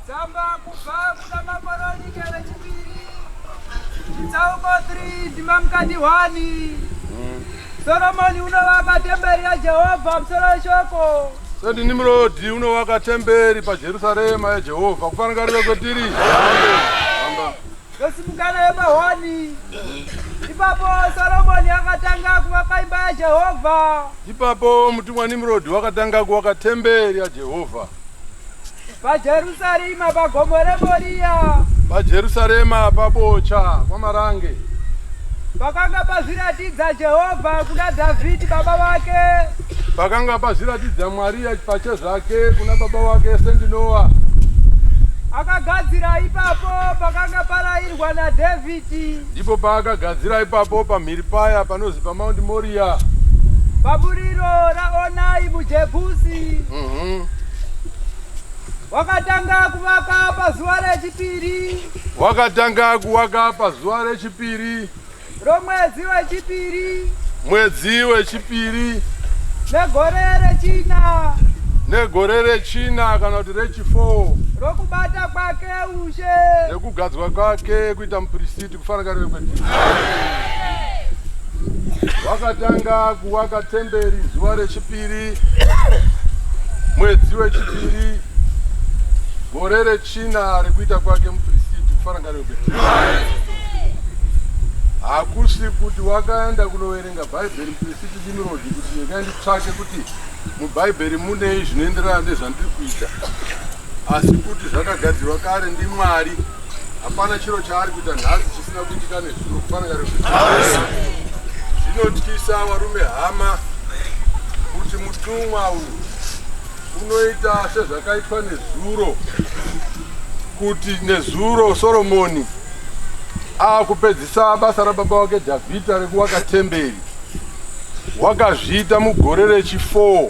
Tsamba kubva kuna Makoronike vechipiri chitsauko 3 ndima mukati 1 Soromoni unovaka temberi yaJehovha musoro weshoko Sendi Nimrodi unovaka temberi paJerusarema yaJehovha kufanira rive kwetiri. Ndosimukana yepahoni ipapo Soromoni akatanga kuvaka imba yaJehovha. Ipapo mutumwa Nimrodi wakatanga kuvaka temberi yaJehovha. pajerusarema pagomo remoriya pajerusarema pabocha kwamarange pakanga pazviratidza jehovha kuna dhavhidhi baba vake pakanga pazviratidza mwari pachezvake kuna baba vake sendinowa akagadzira ipapo pakanga parayirwa nadhavhidhi ndipo paakagadzira ipapo pamhiri paya panozi pamaundi moriya paburiro raonai mujebhusi mhm. wakatanga kuvaka pazuva rechipiri wakatanga kuvaka pazuva rechipiri romwedzi wechipiri mwedzi wechipiri negore rechina negore rechina kana kuti rechifour rokubata kwake nekugadzwa kwake kuita mupirisiti kufanakariwe kwedu wakatanga kuvaka temberi zuva rechipiri mwedzi wechipiri gore rechina rekuita kwake mupirisiti kufanakariwe kwedu hakusi kuti wakaenda kunoverenga bhaibheri mupirisiti dimirodi kuti ndikaenditsvake kuti mubhaibheri munei zvinoenderana nezvandiri kuita asi kuti zvakagadzirwa kare ndimwari hapana chiro chaari kuita nhasi chisina kuitika nezuro kufanira zvinotyisa varume hama kuti mutumwa uyu unoita sezvakaitwa nezuro kuti nezuro soromoni akupedzisa basa rababa wake dhavhidha rekuvaka temberi wakazviita mugore rechi4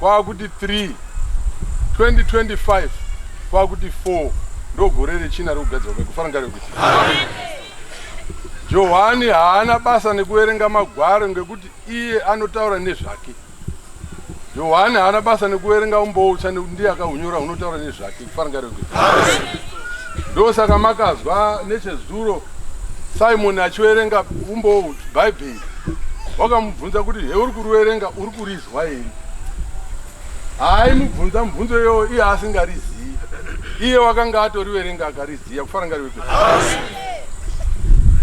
kwakuti 3 2025 kwakuti 4 ndogore rechina rekugadzirwa kwekufana rekuti johani haana basa nekuverenga magwaro ngekuti iye anotaura nezvake johani haana basa nekuverenga umboutsva nekuti ndiye akahunyora hunotaura nezvake ndosaka makazwa nechezuro simoni achiverenga umbowo bhaibheri wakamubvunza kuti he uri kuriverenga uri kurizwa here haaimubvunza mubvunzo iyoyo iye asingarizivi iye wakanga atoriverenga akariziva kufana ngariweke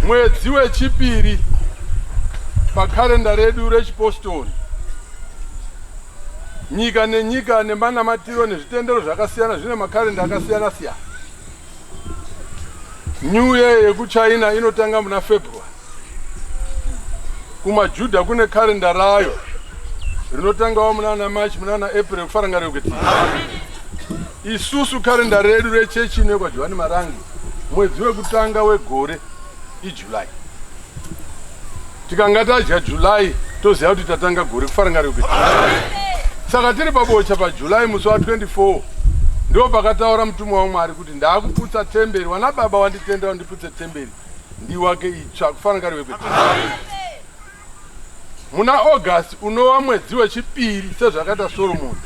mwedzi wechipiri pakarenda redu rechipostori Nyika nenyika nemanamatiro nezvitendero zvakasiyana zvine makarenda akasiyana siyana. New Year yekuChina inotanga muna February. KumaJuda kune karenda rayo rinotangawo munana March munana April kufaranga rekuti isusu karenda redu rechechi inekwa Johani Marangi mwedzi wekutanga wegore July. Tikanga tadya July toziva kuti tatanga gore kufarangariko. Saka tiri pabocha paJuly musi wa 24 ndo pakataura mutumwa waMwari kuti ndakuputsa temberi wana baba wanditenda wandiputse temberi ndiwake itsva kufarangariko. Muna August unova mwedzi wechipiri sezvakaita Solomoni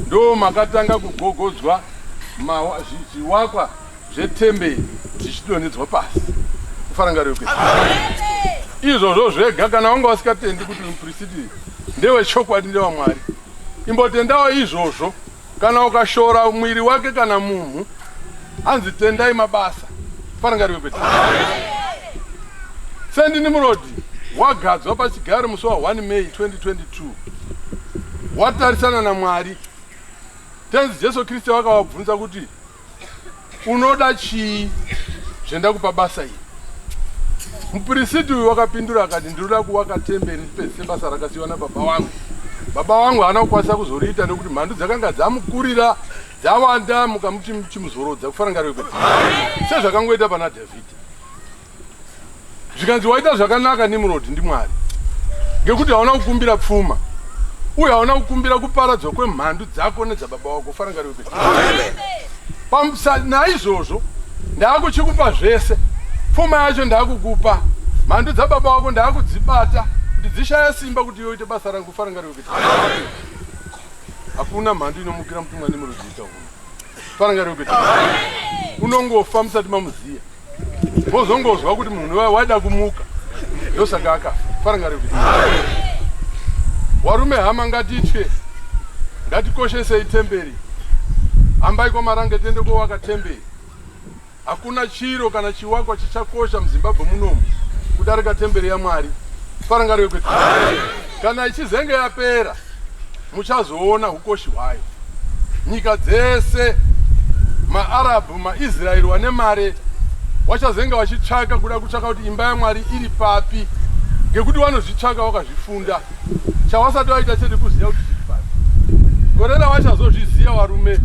ndoo makatanga kugogodzwa zviwakwa zvetemberi zvichidonhedzwa pasi kufarangariro kwe izvozvo zvega kana wanga wasikatendi kuti muprisiti ndewechokwadi ndewamwari imbotendawo izvozvo Kana ukashora mwiri wake kana munhu anzi tendai mabasa farangariwe kwete sendi nimurodi wagadzwa pachigaro musi wa 1 may 2022 watarisana namwari tenzi jesu kristu wakavabvunza kuti Unoda chii zvendakupa basa iri? Mupirisiti uyu wakapindura akati, ndinoda kuvaka temberi pese sebasa rakasiyiwa nababa wangu. Baba wangu haana kukwanisa kuzoriita nekuti mhandu dzakanga dzamukurira dzawanda mukamuti chimuzorodza kufanangarwe kuti sezvakangoita pana Dhavhidhi. zvikanzi waita zvakanaka nimrod ndimwari ngekuti hauna kukumbira pfuma uye hauna kukumbira kuparadzwa kwemhandu dzako nedzababa wako farangario naizvozvo ndaakuchikupa zvese pfuma yacho ndaakukupa mhandu dzababa wako ndaakudzibata kuti dzishaya simba kuti yoite basa rangu farangario kuti hakuna mhandu inomukira mutumwa nemurudzi ita uno farangario kuti unongofa musati mamuziya Wozongozwa kuti munhu waida kumuka ndosaka akafa farangari kuti warume hama ngatitye ngatikoshesei temberi hambai kwamarange tiende kowaka temberi hakuna chiro kana chiwakwa chichakosha muzimbabwe munomu kudarika temberi yamwari farangari kuti kana ichizenge yapera muchazoona hukoshi hwayo nyika dzese maarabhu maisraeri wane mare wachazenge vachitsvaka kuda kutsvaka kuti imba yamwari iri papi ngekuti vanozvitsvaka wakazvifunda chawasati waita chete kuziva kuti zviri papi gore ravachazozviziva varume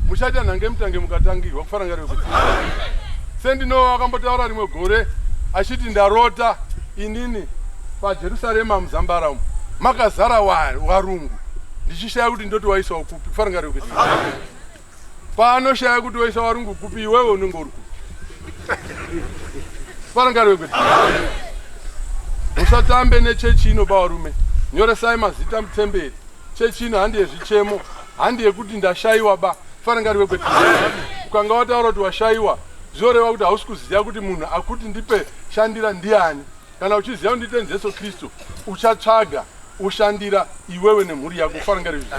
muchaita nhange mutange mukatangirwa kufarangarira kuti sendinova vakambotaura rimwe gore achiti ndarota inini PaJerusarema muzambara umu makazara warungu ndichishaya kuti ndoti waisawo kupi kufanira kuti paanoshaya kuti waisa warungu kupi iwewe unenge uri kupi kufanira kuti musatambe nechechi ino bavarume nyoresai mazita mutemberi chechi ino handi yezvichemo handi yekuti ndashaiwa ba kufanira kuti ukanga wataura kuti washaiwa zvinoreva kuti hausi kuziva kuti munhu akuti ndipe shandira ndiani Kana uchiziva kuti ndite Jesu Kristu, uchatsvaga ushandira iwewe nemhuri yako kufarangari izvi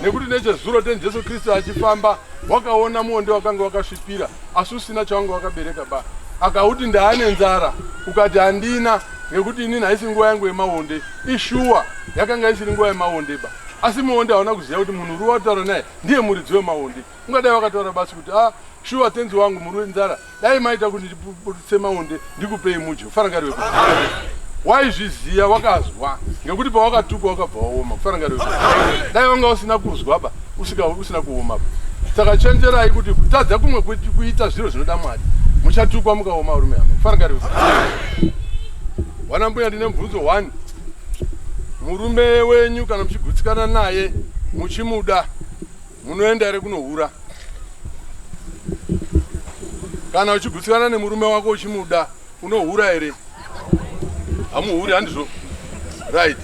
nekuti nechezuro ten jesu kristu achifamba wakaona muonde wakanga wakasvipira asi usina chawanga wakabereka ba akauti ndaane nzara ukati handina nekuti inini haisi nguva yangu yemaonde ishuwa yakanga isiri nguva yemaonde ba asi muonde hauna kuziva kuti munhu uri wataura naye ndiye muridzi wemaonde ungadai wakataura basi kuti a ah, shuwa tenzi wangu muri wenzara dai maita kuti ndiputse maonde ndikupei mudyo farangari weku waizviziva wakazwa ngekuti pawakatukwa wakabva waoma kufarangari weku dai wanga usina kuzwa ba usika usina kuoma ba saka chenjerai kuti kutadza kumwe kuita zviro zvinoda mwari muchatukwa mukaoma rume hama kufarangari weku wana mbuya ndine mubvunzo one murume wenyu kana muchigutsikana naye muchimuda Munoenda here kunohura? Kana uchigutsikana nemurume wako uchimuda unohura here? Hamuhuri handizvo? Right.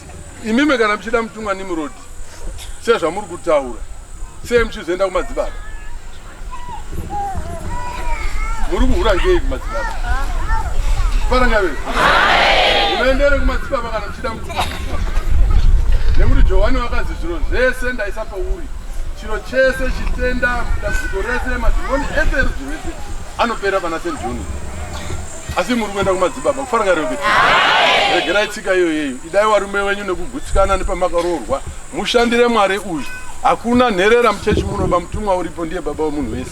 Imimi kana muchida mutumwa Nimrod sezvamuri kutaura sei muchizoenda kumadzibaba? Muri kuhura ngei kumadzibaba? Parangave. Unoendere kumadzibaba kana muchida nekuti johani vakazi zviro zvese ndaisa pauri chiro chese chitenda dambudziko rese madhimoni ese erudzi rwese anopera pana st john asi muri kuenda kumadzibaba kufaranga reo kuti regerai tsika iyoyeyo idai warume wenyu nekugutsikana nepamakaroorwa mushandire mwari uyu hakuna nherera muchechi munoba mutumwa uripo ndiye baba wemunhu wese